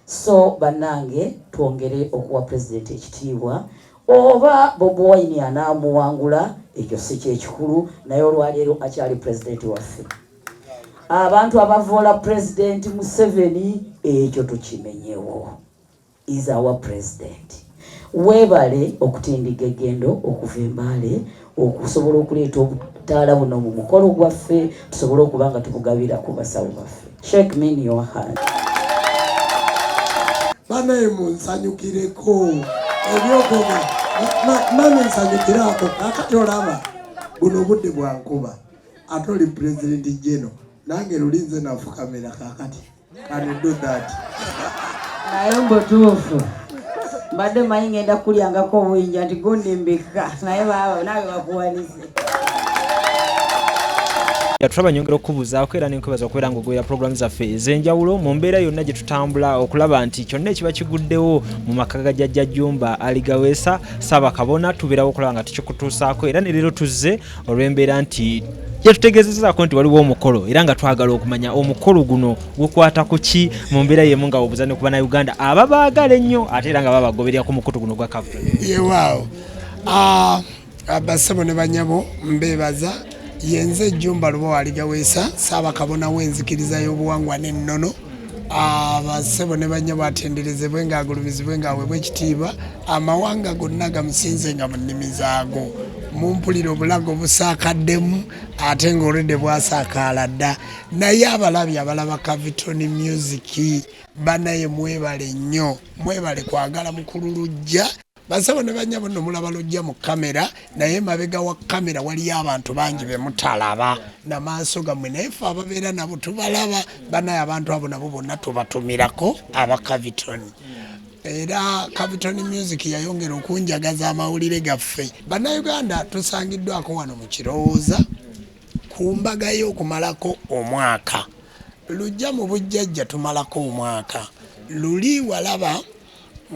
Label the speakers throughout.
Speaker 1: So banange twongere okuwa president ekitiibwa oba Bobi Wine anaamuwangula ekyo si kyekikulu, naye olwaleero akyali president waffe. Abantu abavoola president Museveni ekyo tukimenyewo, is our president. Weebale okutindigga eggendo okuva e Mbale okusobola okuleeta obutaala buno mu mukolo gwaffe tusobole okuba nga tubugabira ku basawo baffe. Sheikh Min Yohan.
Speaker 2: Banaye munsanyukireko ebyokoga mami nsanyukire ako kakati olaba buno obudde bwankuba ate oli pulezidenti jeno nange lulinze nafukamira kakati Can you do that?
Speaker 1: Naye mbutuufu mbadde manyi ngenda kukulyangako obuyinja nti gundi mbikka
Speaker 3: naye baaba naawe bakuwanise yatulaba nyongera okukubuuzaako era nenkwebaza okubeera nga ogoera pulogulaamu zaffe ez'enjawulo mu mbeera yonna gye tutambula okulaba nti kyonna ekiba kiguddewo mu maka ga jajja jumba aligaweesa saabakabona tubeerawo okulaba nga tukikutuusaako era ne leero tuzze olw'embeera nti yatutegezezaako nti waliwo omukolo era nga twagala okumanya omukolo guno gukwata ku ki mu mbeera yemu nga obuza ne ku banauganda aba baagala ennyo ate era nga babagoberera ku mukutu guno gwa kavu yewaawo
Speaker 2: ah, basebo ne banyabo mbebaza yenze ejjumba luba waligaweesa saabakabona w'enzikiriza y'obuwangwa n'ennono abasebo ne bannya batenderezebwe ng'agulumizibwe ng'aweebwa ekitiibwa amawanga gonna gamusinze nga mu nnimi zaago mumpulira obulago busaakaddemu ate ng'olwedde bwasaakaala dda naye abalabi abalaba cavitoni music banaye mwebale nnyo mwebale kwagala mukulu lujja bansabo ne banyabo no mulaba lojja mu kamera naye mabega wa kamera waliyo abantu bangi be mutalaba na maaso gamwe naye fe ababeera nabo tubalaba banaye abantu abo nabo bonna tubatumirako aba caviton era caviton music yayongera okunjagaza amawulire gaffe bannayuganda tusangiddwako wano mu kirowooza ku mbaga y'okumalako omwaka lujja mu bujjajja tumalako omwaka luli walaba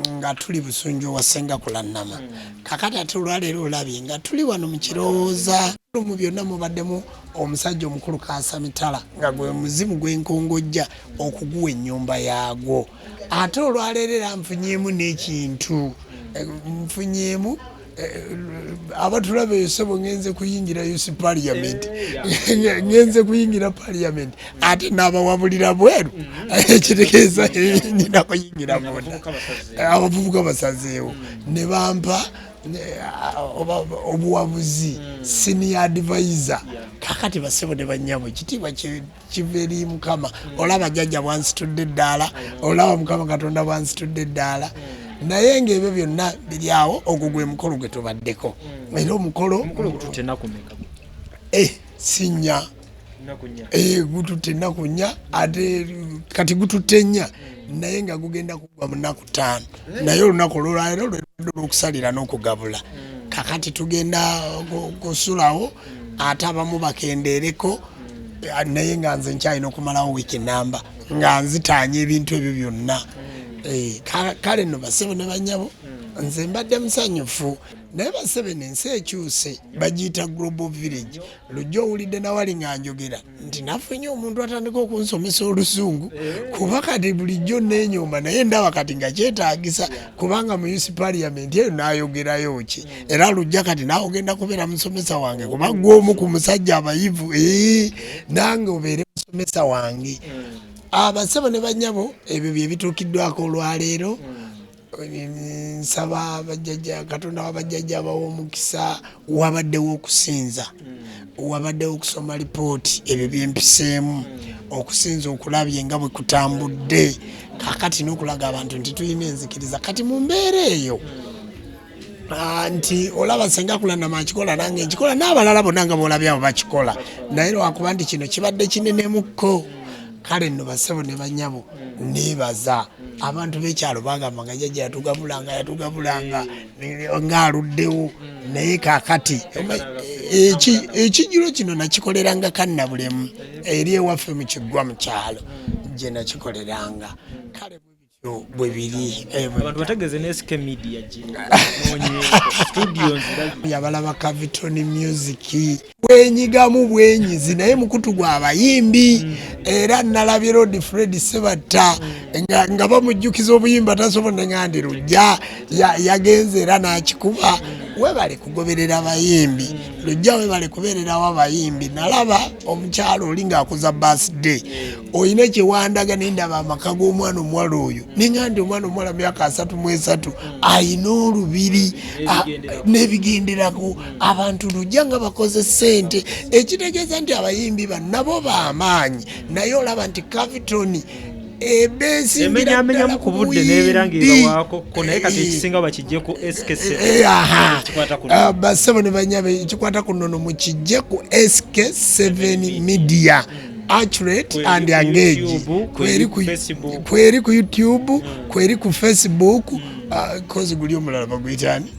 Speaker 2: nga tuli busunju wa senga kulannama hmm. kakati ate olwaleero olabye nga tuli wano mu kirowooza mu byonna mubaddemu omusajja omukulu kaasa mitala nga gwe muzimu gw'enkongojja okuguwa ennyumba yaagwo ate olwaleero era nfunyeemu n'ekintu nfunyeemu abatulaba esebo ngenze kuyingira us parliament eh, ngenze kuyingira parliament ate nabawabulira bweru mm-hmm. ekitegeeza nina kuyingira munda abavubuka basazeewo mm. ne bampa eh, obuwabuzi mm. senior advisor kakati basebo ne banyabo ekitiibwa kiva eri mukama olaba jajja bwansitudde eddaala olaba mukama katonda bwansitudde eddaala naye ngaebyo byonna biryawo ogwo gwe mukolo gwe tubaddeko era omukolo eh, sinya eh, gututte ennaku nnya ate kati gututte nnya naye nga gugenda kugwa mu nnaku ttaano eh? naye olunaku olwolaero lwelwadde olwokusalira n'okugabula hmm. kakati tugenda kusulawo ate abamu bakendeereko eh, naye nga nze nkyalina okumalawo wiiki namba nga nzitaanya ebintu ebyo byonna eh, kale no basebo ne banyabo nze mbadde musanyufu naye basebe nensi ekyuse bagiyita global village lujja owulidde nawali nga njogera nti nafunye omuntu atandika okunsomesa oluzungu eh. kuba kati bulijjo nenyomba naye ndaba kati nga kyetagisa kubanga mu us parliament eyo nayogerayo ki hmm. era lujja kati nawe ogenda kubeera musomesa wange kuba gwomu ku musajja abayivu eh, nange obeere musomesa wange hmm. abasebo ne banyabo ebyo byebituukiddwako olwaleero hmm. nsaba bajjaja katonda wabajjaja abawa omukisa wabaddewo okusinza hmm. wabaddewo okusoma lipooti ebyo byempiseemu hmm. okusinza okulabye nga bwe kutambudde kakati n'okulaga abantu nti tulina enzikiriza kati mu mbeera eyo hmm. ah, nti olaba senga kulanama akikola nange nkikola n'abalala bonna nga boolabye abo bakikola naye lwakuba nti kino kibadde kinenemu kko kale nno basebo ne banyabo nebaza abantu bekyalo bagamba nga jaja yatugabulanga yatugabulanga ngaaluddewo naye kakati ekijiro kino nakikoleranga kannabulemu eri ewaffe mukiggwa mukyalo gye nakikoleranga kale bwe biri eh, abantu bategeze
Speaker 3: ne SK Media gye yabalaba
Speaker 2: Cavitoni Music bwenyigamu bwenyizi naye mukutu gwa bayimbi mm. era nalabye rod fred sebatta mm. nga bamujjukiza obuyimba tasobola nengandi lujja yagenze era nakikuba webale kugoberera bayimbi mm. lujja webale kubererawo abayimbi nalaba omukyalo oli ngaakuza basday olina kyewandaga nendaba amaka g'omwana omuwala oyo nengandi omwana omuwala myaka asatu mwesatu alina olubiri nebigenderako abantu lujja nga bakoze sente ekitegeeza nti abayimbi ba nabo bamaanyi naye olaba nti cavitoni ebeesimbiamenyaamenyamu
Speaker 3: ku budde nebeera ngaebawaako ko naye kati eh, ekisinga bakijje ku skbassebo eh, eh, ne banyabe
Speaker 2: ekikwata ku nono mukijje ku sk 7 media mm. accurate and engage kweri ku kweri ku youtube mm. kweri ku facebook mm. ah, kozi guli omulala baguyitani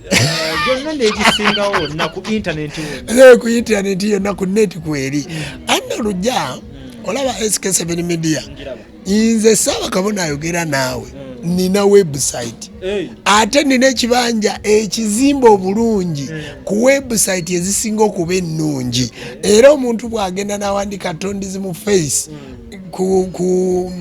Speaker 3: ku intaneti
Speaker 2: yonna ku neti kweri anna lujja olaba sk7 media nze saaba kabona ayogera naawe mm. nina website ate nina ekibanja ekizimba obulungi mm. ku website ezisinga okuba ennungi era omuntu bwagenda nawandika tondizi mu face mm. ku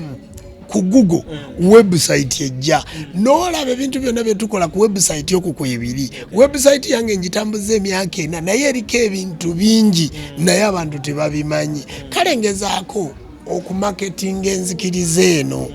Speaker 2: ku google mm. website ejja mm. nolaba ebintu byonna byetukola ku website oku kwebiri website yange njitambuza emyaka ena naye eriko ebintu bingi mm. naye abantu tebabimanyi kale ngezaako okumaketinga enzikiriza eno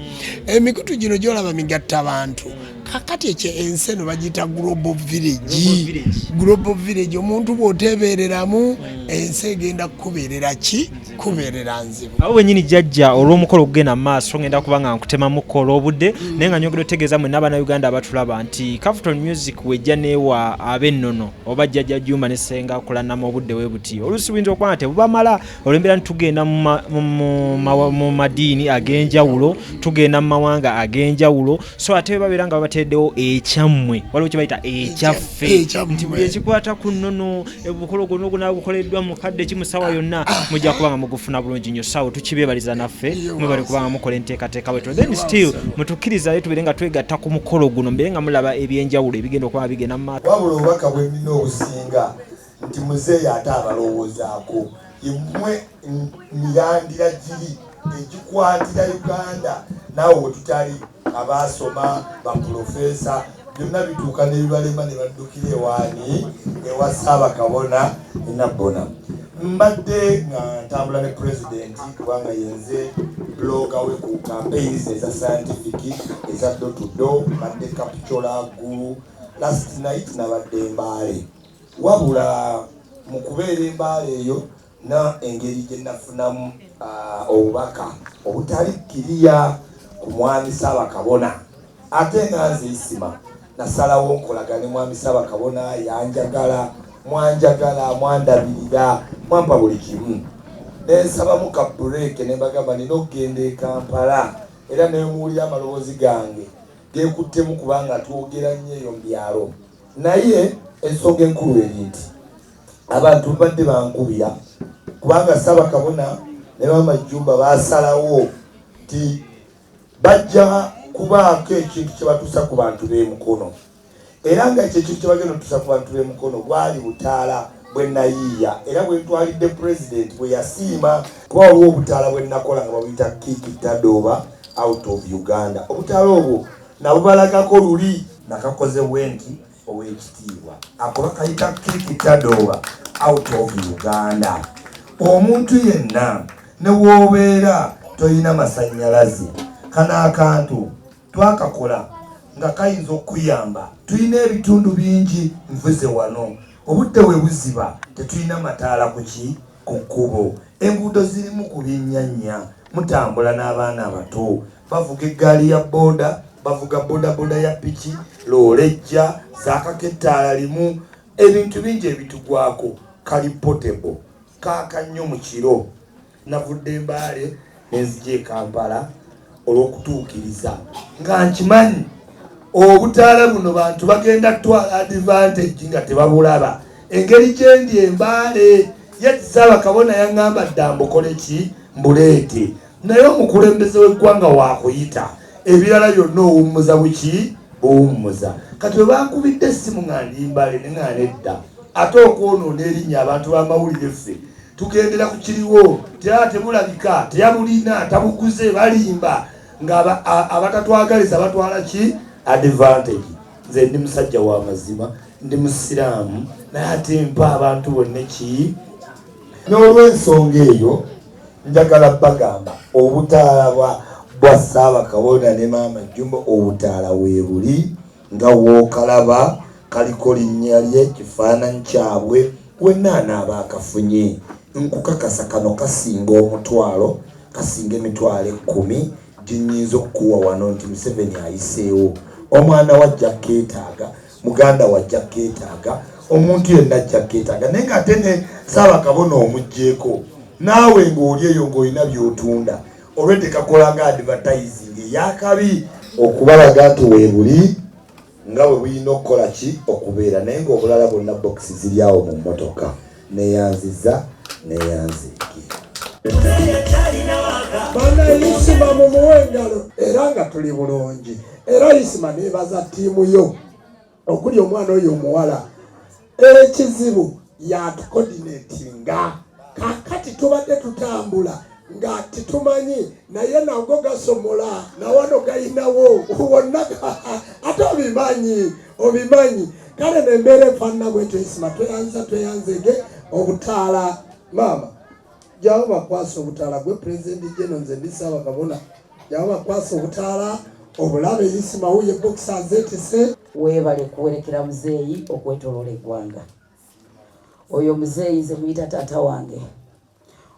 Speaker 2: emikutu gino gyolaba migatta abantu kakati ekyo ensi eno bagiyita global village global village omuntu bwotebereramu ensi egenda kukuberera ki kubeerera nzibu abo benyini jajja
Speaker 3: olw'omukolo okugenda mu maaso ngenda kuba nga nkutemamuko olw'obudde mm. naye nga nyongera otegeeza mwe n'abaana uganda abatulaba nti capital music wejja neewa ab'ennono oba jjajja jumba ne senga kulanama obudde we buti oluusi buyinza okuba nga tebubamala olwembeera nti tugenda mu madiini ag'enjawulo tugenda mu mawanga ag'enjawulo so ate babeera nga babateereddewo ekyammwe waliwo kye bayita ekyaffe nti buli ekikwata ku nnono obukolo guno oguna gukoleddwa mu kadde ki musawa yonna mujja kuba nga mugufuna bulungi nyo sawo tukibebaliza naffe mwebali kuba nga mukola enteekateeka bwetyo then still mutukkirizayo tubeere nga twegatta ku mukolo guno mbeere nga mulaba ebyenjawulo ebigenda okuba bigenda mu maaso wabula obubaka bwenina
Speaker 4: obusinga nti muzeeyi ate abalowoozaako Emwe mirandira giri egikwatira Uganda naawe wetutali abaasoma bapulofeesa byonna bituuka nebibalema ne baddukira ewaani ewa Ssaabakabona enabbona. Mbadde nga ntambula ne pulezidenti kubanga yenze blooga we ku campaigns eza scientific eza do to do mbadde kapcola gulu last night nabadde mbaale Wabula mu kubeera e Mbale eyo na engeri gye nafunamu obubaka obutali kkiriya ku Mwami Ssaabakabona ate nga nze Isima nasalawo nkolaga ne Mwami Ssaabakabona yanjagala mwanjagala mwandabirira mwampa buli kimu nensabamu ka bureeke ne mbagamba nina okugenda e Kampala era nemuwulira amaloboozi gange gekuttemu kubanga twogera nnyo eyo mu byalo. Naye ensonga enkulu eri nti abantu mbadde bankubira kubanga Ssabakabona ne Maama Jjumba baasalawo nti bajja kubaako ekintu kye batuusa ku bantu b'e Mukono era nga ekyo ekintu kye bagenda otuusa ku bantu b'e Mukono gwali butaala bwe nayiiya era bwe ntwalidde pulezidenti bwe yasiima kuba waliwo obutaala bwe nakola nga babuyita kiiki tadooba out of Uganda obutaala obwo nabubalagako luli nakakoze bwenti owekitiibwa ako bakayita kikitadooba out of uganda omuntu yenna newoobeera tolina masanyalaze kano akantu twakakola nga kayinza okukuyamba tulina ebitundu bingi nvuze wano obudde webuziba tetulina mataala kuki ku kkubo, enguudo zirimu ku byennyanya, mutambula n'abaana abato, bavuga eggaali ya bbooda, bavuga bodaboda ya ppiki, loole ejja, zaakako ettaala limu, ebintu bingi ebitugwako, kali portable, kaaka nnyo mu kiro. Navudde Mbale ne nzija e Kampala. olw'okutuukiriza nga nkimanyi obutaala buno bantu bagenda kutwala advantage nga tebabulaba engeri gyendi embaale yetisaaba kabona yaŋŋamba dda mbukole ki mbuleete naye omukulembeze w'eggwanga waakuyita ebirala byonna owummuza buki buwummuza kati bwe bankubidde essimu nga ndimbale ne nga nedda ate okwonoona erinnya abantu b'amawulire ffe tugendera ku kiriwo tera tebulabika teyabulina tabuguze balimba nga abatatwagaliza batwala ki advantage nze ndi musajja wa mazima ndi musiraamu naye ate mpa abantu bonna ki n'olwensonga eyo njagala bagamba obutaala bwa bwa ssaabakabona ne maama jjumba obutaala weebuli nga w'okalaba kaliko linnya lye, kifaananyi kyabwe, wenna anaaba akafunye nkukakasa kano kasinga omutwalo, kasinga emitwalo ekkumi gye nnyinza okukuwa wano nti Museveni ayiseewo. Omwana wo ajja kukeetaaga, muganda wo ajja kukeetaaga, omuntu yenna ajja kukeetaaga naye ng'ate ne Ssaabakabona omuggyeko naawe ng'oli eyo ng'olina by'otunda. olwe tekakola nga advertising eyakabi okubalaga nti webuli nga bwe bulina okukola ki okubeera naye ngaobulala bwonna bokisi ziri awo mu mmotoka neyanziza neyanziki banayisima mumuwe engalo era nga tuli bulungi era yisima nebaza tiimu yo okuli omwana oyo omuwala ekizibu yatukodinatinga kakati tubadde tutambula nga titumanyi naye nago gasomola nawano galinawo wonna ate obimanyi obimanyi kale nembeera efaanana bwetyo isima tweyanza tweyanzege obutaala maama jyawo bakwasa obutaala gwe pulezidenti jeno nze ndi ssaabagabona jyawo bakwasa obutaala obulabe yisimawuye bokisi azeetese weebale
Speaker 1: kuwerekera muzeeyi okwetoloola eggwanga oyo muzeeyi nze muyita taata wange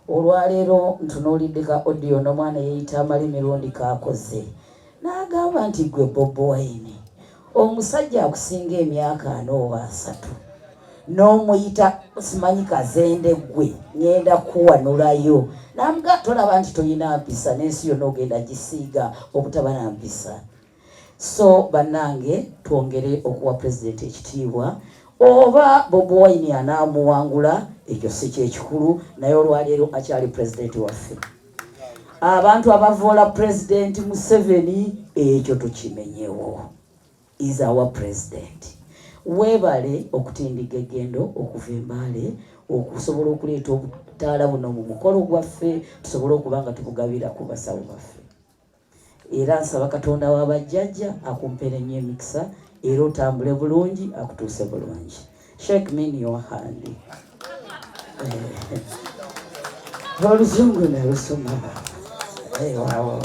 Speaker 1: olwaleero ntunuulidde ka odiyo n'omwana yeeyita amali mirundi kaakoze n'agamba nti gwe bobi wine omusajja akusinga emyaka ana oba asatu n'omuyita simanyi kazende gwe ngenda kuwanulayo namuga tolaba nti tolina mpisa n'ensi yona ogenda gisiiga obutaba na mpisa so bannange twongere okuwa pulezidenti ekitiibwa oba bobi wine anaamuwangula ekyo si kyekikulu naye olwaleero akyali pulezidenti waffe abantu abavoola president museveni ekyo tukimenyewo is our president webale okutindiga egendo okuva embaale okusobola okuleeta obutaala buno mu mukolo gwaffe tusobole okuba nga tubugabira ku basawo baffe era nsaba katonda wa bajjajja akumpere nnyo emikisa era otambule bulungi akutuuse bulungi shek min yohandi eh, oluzungu nalusoma eh, wawo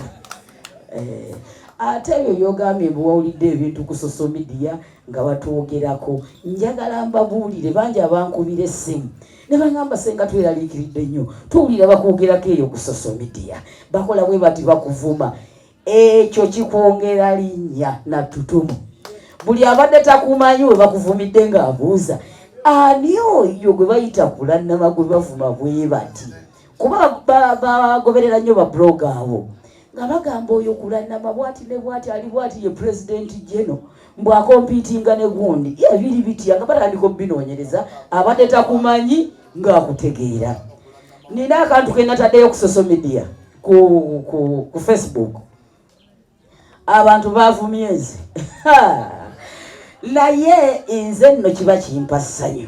Speaker 1: eh, ate ebyo byogambye bwewawulidde ebintu ku social media nga batwogerako njagala mbabuulire bangi abankubira essimu ne bangamba senga tweraliikiridde nnyo tuwulira bakwogerako eyo ku social media bakola bwe bati bakuvuma ekyo kikwongera linnya na tutumu buli abadde takumanyi we bakuvumidde ng'abuuza ani oyo gwe bayita kulannama gwe bavuma bwe bati kuba bagoberera nnyo babulooga abo nga bagamba oyo kulanama bwati ne bwati ali bwati ye president geno mbu akompitinga ne gundi ye biri bitya nga batandika obinoonyereza abadde takumanyi ngaakutegeera nina akantu kenataddeyo ku social media ku, ku, ku facebook abantu bavumye nze naye nze nno kiba kimpa ssanyu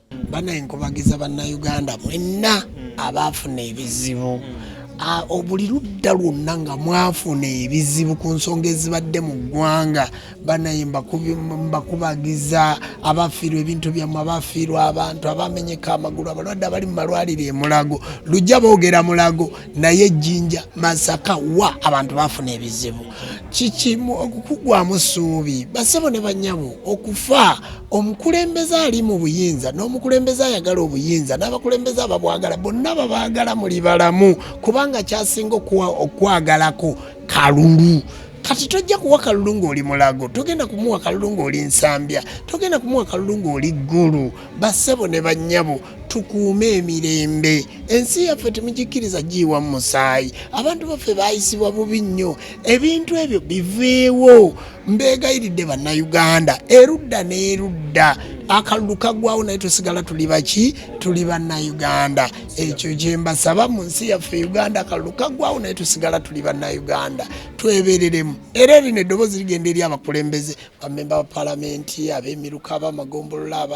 Speaker 1: bana
Speaker 2: enkubagiza bannayuganda mwenna hmm. abaafuna ebizibu hmm. buli ludda lwonna nga mwafuna ebizibu ku nsonga ezibadde mu ggwanga banaye mbakubagiza abafiirwa ebintu byammwe abafiirwa abantu abamenyeka amagulu abalwadde abali mu malwaliro emulago lujja boogera mulago naye ejjinja masaka wa abantu bafuna ebizibu kikimu okukugwamu ssuubi basebo ne banyabo okufa omukulembeze ali mu buyinza n'omukulembeze ayagala obuyinza n'abakulembeze ababwagala bonna babaagala muli balamu kubanga kyasinga okwagalako kalulu kati tojja kuwa kalulu ng'oli mulago togenda kumuwa kalulu ng'oli nsambya togenda kumuwa kalulu ng'oli ggulu bassebo ne bannyabo tukuume emirembe ensi yaffe temugikkiriza giyiwa mu musaayi abantu baffe bayisibwa bubi nnyo ebintu ebyo biveewo mbeegayiridde bannayuganda erudda n'erudda akalulu kagwawo naye tusigala tuli baki tuli bannayuganda ekyo gyembasaba mu nsi yaffe uganda akalulu kagwawo naye tusigala tuli bannayuganda twebereremu era erino eddoboozi rigenda eri abakulembeze bamemba ba palamenti abemiruka abamagombolola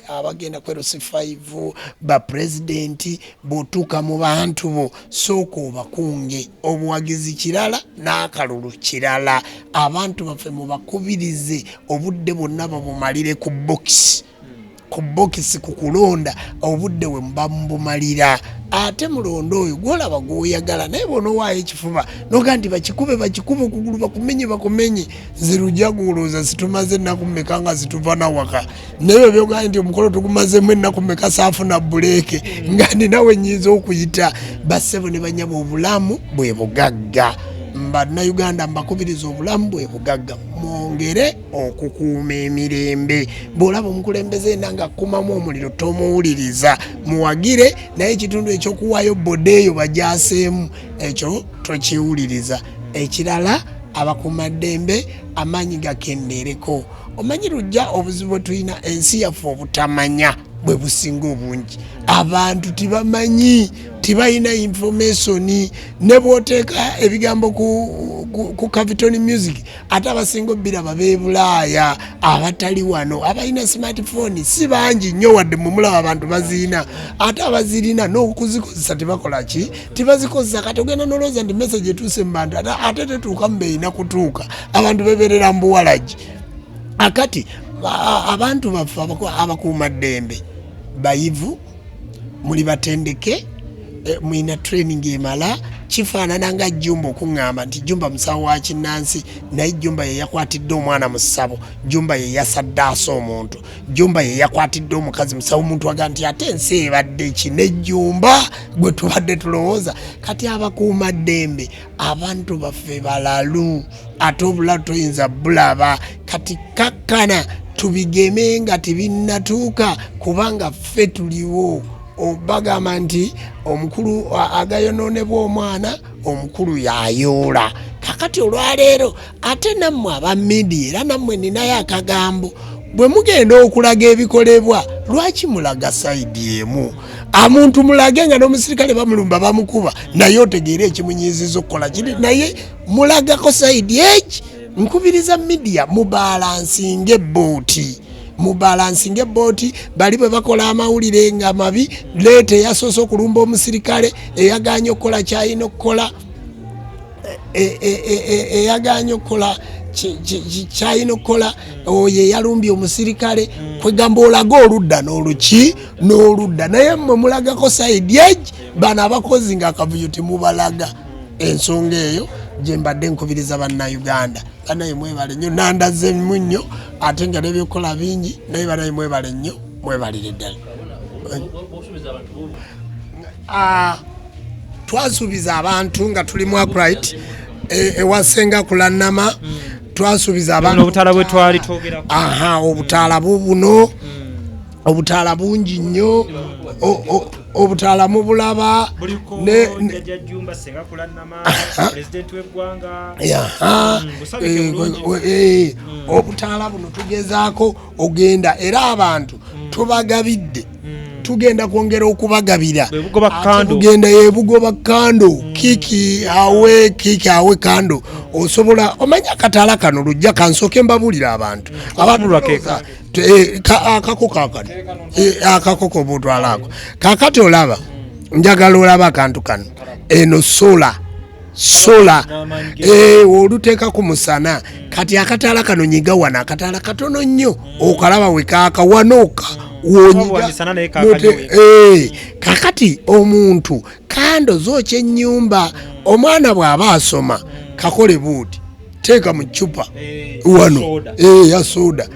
Speaker 2: abagenda kwerusi 5 bapulezidenti bwotuuka mu bantu bo sooka obakunge obuwagizi kirala n'akalulu kirala abantu baffe mubakubirize obudde bwonna babumalire ku bokisi ku bokisi ku kulonda obudde we muba mubumalira ate mulonda oyo gwolaba gwoyagala naye bonowaayo ekifuba noga nti bakikube bakikube okugulu bakumenye bakumenye nze lujaguloza situmaze ennaku meka nga zituva nawaka naye obyogani nti omukolo tugumazemu ennaku meka saafuna buleeke nga ninawe nyinza okuyita bassebo ne banyaba obulamu bwe bugagga mbanauganda mbakubiriza obulamu bwe bugagga mwongere okukuuma emirembe bwolaba omukulembeze ena nga kumamu omuliro tomuwuliriza muwagire naye ekitundu ekyokuwaayo boda eyo bajaseemu ekyo tokiwuliriza ekirala abakumaddembe amaanyi gakendeereko omanyi lujja obuzibu bwetulina ensi yaffe obutamanya bwe businga obungi abantu tibamanyi tibalina informationi ne bwoteeka ebigambo ku, ku, ku caviton music ate abasinga obiraba bebulaaya abatali wano abalina smartphone si bangi nnyo wadde mumulaba abantu bazirina ate abazirina nokuzikozesa tebakola ki tebazikozesa kati ogenda nolowooza nti message etuuse mu bantu ate tetuuka mu beerina kutuuka abantu beberera mbuwalagi akati abantu baffe abakuuma ddembe bayivu muli batendeke eh, mulina training emala kifaanana nga jumba okuŋŋamba nti jumba musawo wa kinnansi naye jumba ye yakwatidde omwana mu ssabo jumba ye yasaddaasa omuntu jumba ye yakwatidde omukazi musawo omuntu aga nti ate ensi ebadde ki ne jumba gwe tubadde tulowooza kati abakuuma ddembe abantu baffe balalu ate obula toyinza bulaba kati kakkana tubigeme nga tebinnatuuka kubanga ffe tuliwo bagamba nti omukulu agayonoonebwa omwana omukulu yayoola kakati olwaleero ate nammwe aba midiya era nammwe ninayo akagambo bwe mugenda okulaga ebikolebwa lwaki mulaga sayidi emu amuntu mulage nga n'omusirikale bamulumba bamukuba naye otegeera ekimunyiiziza okukola kiri naye mulagako sayidi eki nkubiriza midiya mubalansinga ebbooti mubalansinga ebbooti bali bwe bakola amawulire nga mabi leeta eyasoose okulumba omusirikale eyagaanye okukola kyalina okukola e, e, e, eyagaanye okukola kyalina okukola oyo eyalumbye omusirikale mm. kwegamba olaga oludda noluki noludda naye mwe mulagako saidi egi bano abakozi nga akavuyo temubalaga ensonga eyo gyembadde nkubiriza bannauganda banaye mwebale nnyo nandazemu nnyo ate nga nebyokukola bingi naye banaye mwebale nnyo mwebalire ddala Ah, twasuubiza abantu nga tuli mu akrit e, ewasenga kulannama mm. twasuubiza abantu obutaala bwe twali
Speaker 3: twogera aha obutaala
Speaker 2: bubuno mm. obutaala bungi nnyo obutala mubulaba obutala buno tugezaako ogenda era abantu mm. tubagabidde mm. tugenda kwongera okubagabira tugenda yebugoba kando mm. kiki awe kiki awe kando osobola omanya akatala kano lujja kansooke mbabulira abantu eh, akako kakano eh, akako kobutwalako kakati olaba njagala olaba akantu kano eno sola sola eh, oluteeka ku musana kati akataala kano nyiga wano akataala katono nnyo okalaba wekaaka wanooka eh, kakati omuntu kando zooky ennyumba omwana bw'aba asoma kakole buuti teeka mu ccupa eh, wano ya soda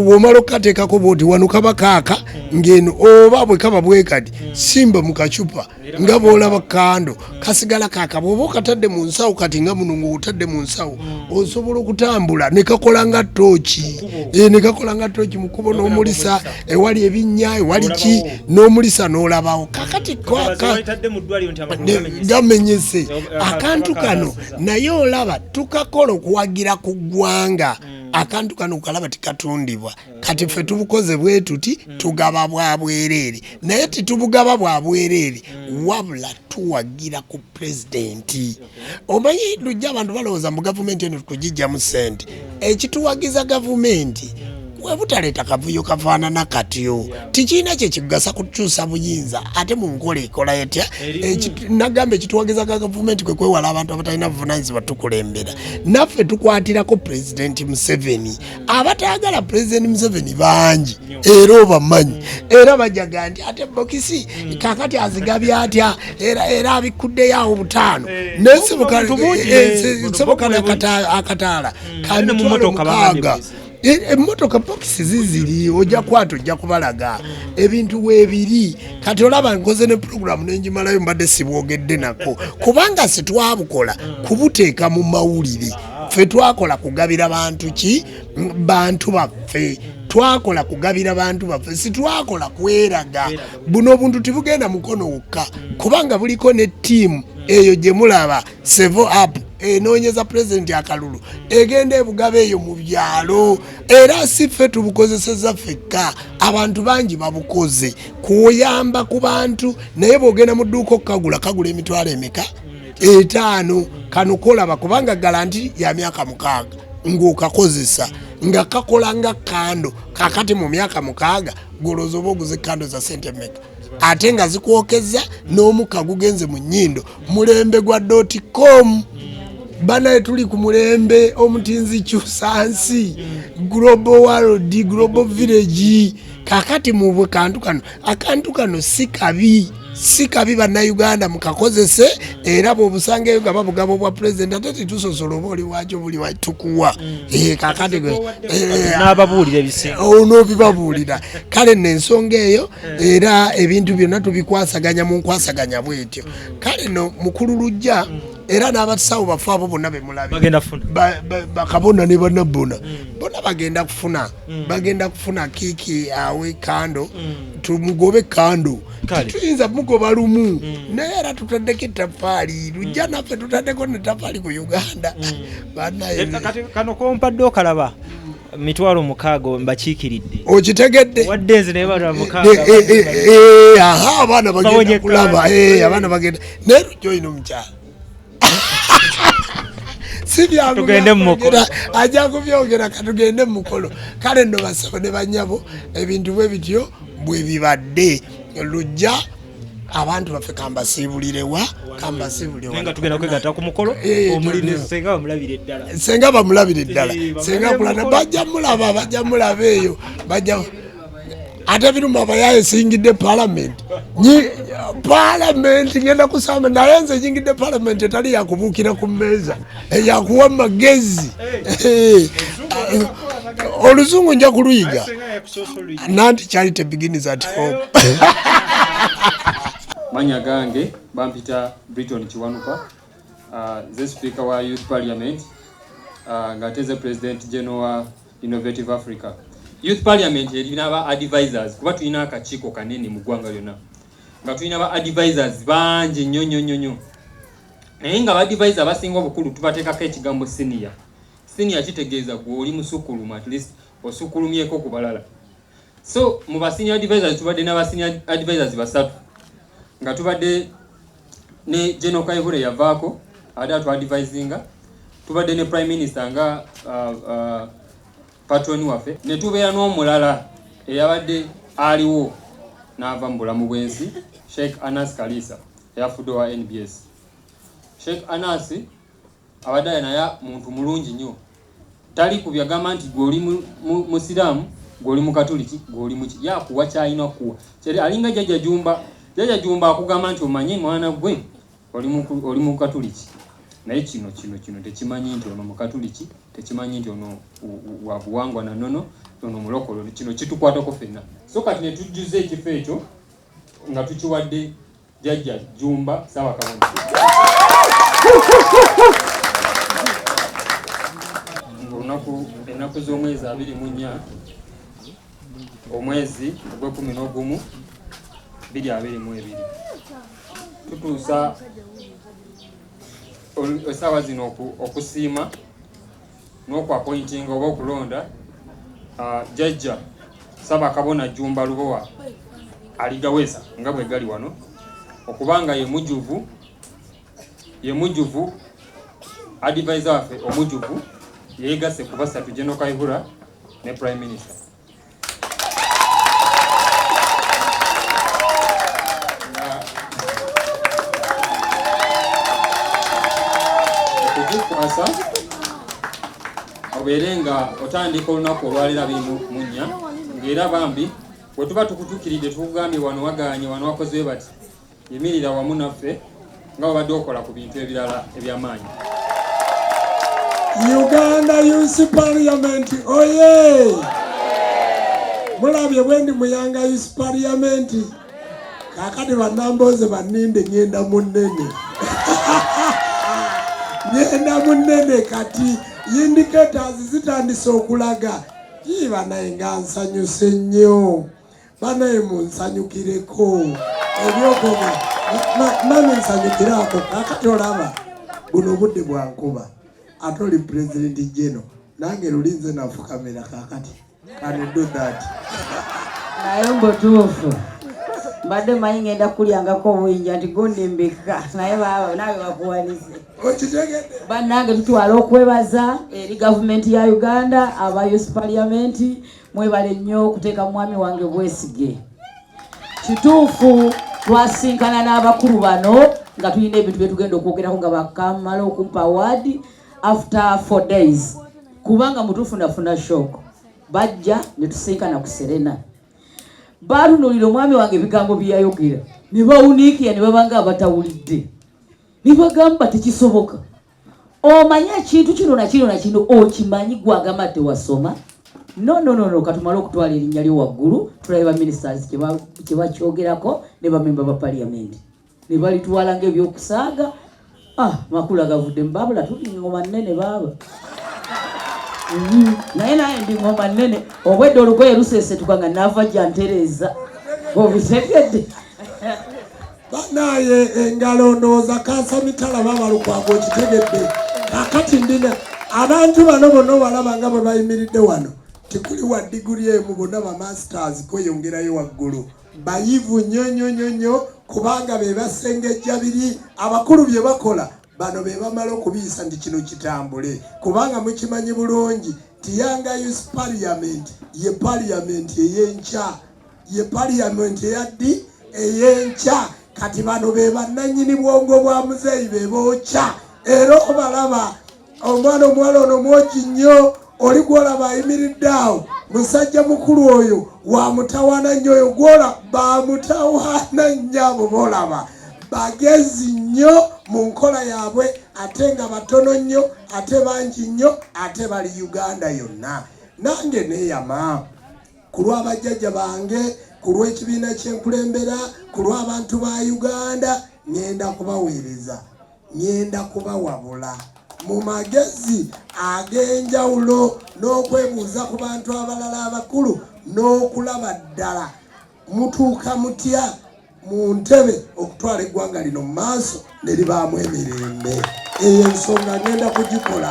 Speaker 2: bwomala okukateekako buuti wano kaba kaaka ng'eno oba bwe kaba bwekati simba mu kacupa nga bwolaba kando mm. kasigala kakaba oba okatadde mu nsawo kati nga muno ngaotadde mu nsawo mm. osobola okutambula nekakola nga tooki eh, nekakola nga tooki mukubo n'omulisa ewali ebinnya ewali ki n'omulisa n'olabawo kakati gamenyese eh, eh, akantu kano naye olaba tukakola okuwagira ku ggwanga mm. akantu kano okalaba tikatundibwa kati ffe tubukoze bwe tuti mm. tugaba bwa bwereere naye titubugaba bwa bwereere mm. wabula tuwagira ku pulezidenti omanyi lujja abantu balowooza mu gavumenti eno tukugijjamu ssente mm. ekituwagiza gavumenti webutaleeta kavuyo kafaanana katyo tikirina kyekigasa kukyusa buyinza ate mu nkola ekola etya nagamba ekituwagiza ga gavumenti kwe kwewala abantu abatalina buvunanyizibwa tukulembera naffe tukwatirako pulezidenti museveni abatayagala pulezidenti museveni bangi era obamanyi era bajaga nti ate bokisi kakati azigabye atya era abikkuddeyo awo butaano eh, nayesibukansoboka nakataala kamitwalomukaaga emotoka bokisi ziziri ojja kwata ojja kubalaga ebintu webiri kati olaba nkoze ne puroguramu nenjimalayo mbadde sibwogedde nako kubanga sitwabukola kubuteeka mu mawulire mm. ffe twakola kugabira bantu ki bantu baffe twakola kugabira bantu baffe sitwakola kweraga buno obuntu tibugenda mukono wokka kubanga buliko ne tiimu eyo gye mulaba sevo up enoonyeza pulezidenti akalulu egenda ebugaba eyo mu byalo era si ffe tubukozeseza fekka abantu bangi babukoze kuyamba ku bantu naye bwogenda mu dduuka okukagula kagula emitwalo emeka etaano kano kolaba kubanga galanti ya myaka mukaaga ng'okakozesa nga kakola nga kando kakati mu myaka mukaaga goloza oba oguze kando za sente meka ate nga zikwokezza n'omukka gugenze mu nnyindo mulembe gwa doti com banaye tuli ku mulembe omutinzi kyusa nsi global world global village kakati mu bwe kantu kano akantu kano si kabi si kabi bannayuganda mukakozese era bwobusangaeyo nga babugaba obwa pulezidenti ate titusosola oba oli wakyo buli watukuwa mm. eh,
Speaker 3: kakationobibabuulira eh, eh,
Speaker 2: oh, kale nensonga eyo era ebintu byonna tubikwasaganya mu nkwasaganya bwetyo mm. kale no mukulu lujja mm. era n'abasawo bafe abo bonna bemulabibakabona ne banabbona bona bagenda kufuna Mm. bagenda kufuna kiki awe kando mm. tumugobe kando tetuyinza mugoba lumu mm. naye era tutaddeko etafaali lujja naffe tutaddeko netafaali ku uganda banayekano
Speaker 3: eh, kompadde okalaba mitwalo mukaaga mbakiikiridde okitegedde wadde
Speaker 2: nze naye bana
Speaker 3: mukaaga eh, eh, abaana
Speaker 2: bagenda kulaba abaana bagenda naye lujja olina omukyalo
Speaker 3: tugende mumukolo ajja kubyogera
Speaker 2: katugende mumukolo kale no basabo ne banyabo ebintu bwe bityo bwe bibadde lujja abantu baffe kambasiibulirewa kambasiibulirewaenga
Speaker 3: tugenda kwegata ku mukolo eh, eh, senga bamulabire eddala
Speaker 2: senga bamulabire eddala eh, senga kulana bajja mulaba bajja mulaba eyo bajja ate ebiruma abayaye esingidde palamenti palamenti ngenda kusamba naye nze nyingidde palamenti etali yakubuukira ku mmeeza eyakuwa magezi oluzungu nja kuluyiga nanti charity begins at home
Speaker 5: manya gange bampita briton kiwanuka uh, ze sipiika wa youth parliament uh, ng'ate ze president general Innovative Africa Youth Parliament erina ba advisors kuba tulina akakiiko kanene mu ggwanga lyonna nga tulina ba advisors bangi nnyo nnyo nnyo nnyo naye nga ba advisor abasinga obukulu tubateekako ekigambo senior senior kitegeeza gwe oli musukulumu at least osukulumyeko ku balala So mu ba senior advisors tubadde na ba senior advisors basatu nga tubadde ne General Kayihura yavaako abadde atu advisinga, tubadde ne Prime Minister nga uh, uh, patron waffe ne tubeera n'omulala eyabadde aliwo n'ava mu bulamu bw'ensi Sheikh Anas Kalisa eyafudde owa NBS. Sheikh Anas abadde naye muntu mulungi nnyo tali ku byagamba nti gwe oli musiraamu gwe oli mukatuliki gwe oli muki yakuwa kyalina okukuwa kyali alinga jajja jumba jajja jumba akugamba nti omanye mwana gwe oli mukatuliki naye kino kino kino tekimanyi nti ono mukatuliki tekimanyi nti ono wabuwangwa nanono ono mulokolo kino kitukwatako fenna so kati netujjuza ekifo ekyo nga tukiwadde Jajja Jumba sawa kabona. Olunaku ennaku z'omwezi abiri mu nnya omwezi ogw'ekkumi n'ogumu biri abiri mu ebiri tutuusa essaawa zino okusiima n'oku appointinga oba okulonda uh, jajja saba kabona jumba lubowa aligaweza nga bwe gali wano okubanga ye mujuvu ye mujuvu advisor waffe omujuvu yeegasse ku basatu general kaihura ne prime minister okugikwasa obeere nga otandika olunaku olwalira bintu munya ngaera bambi wetuba tukutukiridde tukugambye wano waganye wano wakoze bati Yimirira wamu naffe nga wabadde okola ku bintu ebirala eby'amaanyi.
Speaker 2: Uganda Youth Parliament oye! Mulabye bwe ndi muyanga Youth Parliament, kakati bannambooze banninde ng'enda mu nnene ng'enda mu nnene kati indicators zitandise okulaga ii banaye nga nsanyuse nnyo. banaye munsanyukireko ebyokoga mami nsanyukire ako kakati olaba buno obudde bwankuba ate oli pulezidenti jeno nange luli nze nafukamira kakati kanido that naye
Speaker 1: mbutuufu mbadde manyi ngenda kulyangako obuyinja nti gundimbika naye baba nawe bakuwanize
Speaker 2: bannange tutwala
Speaker 1: okwebaza eri gavumenti ya uganda aba us paliamenti Mwebale nnyo okuteeka mwami wange bwesige. Kituufu twasinkana n'abakulu bano nga tulina ebintu bye tugenda okwogerako nga bakamala okumpa awaadi after four days kubanga mutufunafuna shock bajja ne tusinkana ku Serena. Baalunuulira omwami wange ebigambo bye yayogera ne bawuniikira ne babanga abatawulidde ne bagamba tekisoboka. omanyi ekintu kino nakino nakino okimanyi gwagamba tewasoma nononono katumale okutwala erinnya lyo waggulu tulabe baministers kyebakyogerako ne bamemba ba paliyamenti ne balitwala ngaebyokusaaga ah makulu agavuddemu babula tuli ngoma nnene baaba mm-hmm. naye naye ndi ngoma nnene obwedde olugoye lusesetuka nga nava jantereeza obitegedde
Speaker 2: banaye engalo ndowooza kansa mitala baba lukwago okitegedde kakati ndina abantu bano bona obalaba nga bwe bayimiridde wano tekuli wa diguli emu bona bamasters kweyongerayo waggulu bayivu nyo nyo nyo nyo kubanga be basengejja biri abakulu bye bakola bano be bamala okubiyisa nti kino kitambule kubanga mukimanyi bulungi tiyangayo parliament ye parliament eyenkya ye parliament eyaddi eyenkya kati bano be bannanyini bwongo bwa muzeeyi be bookya era obalaba omwana omuwala ono mwogi nnyo oli gwolaba ayimiridde awo musajja mukulu oyo wamutawaana nnyo oyo gwola bamutawaana nnyo abo boolaba bagezi nnyo mu nkola yaabwe ate nga batono nnyo ate bangi nnyo ate bali uganda yonna nange neeyama ku lwa bajjajja bange ku lw'ekibiina kyenkulembera ku lw'abantu ba uganda ngenda kubaweereza ngenda kubawabula mu magezi ag'enjawulo n'okwebuuza ku bantu abalala abakulu n'okulaba ddala mutuuka mutya mu ntebe okutwala eggwanga lino mu maaso ne libaamu emirembe eyo ensonga ngenda kugikola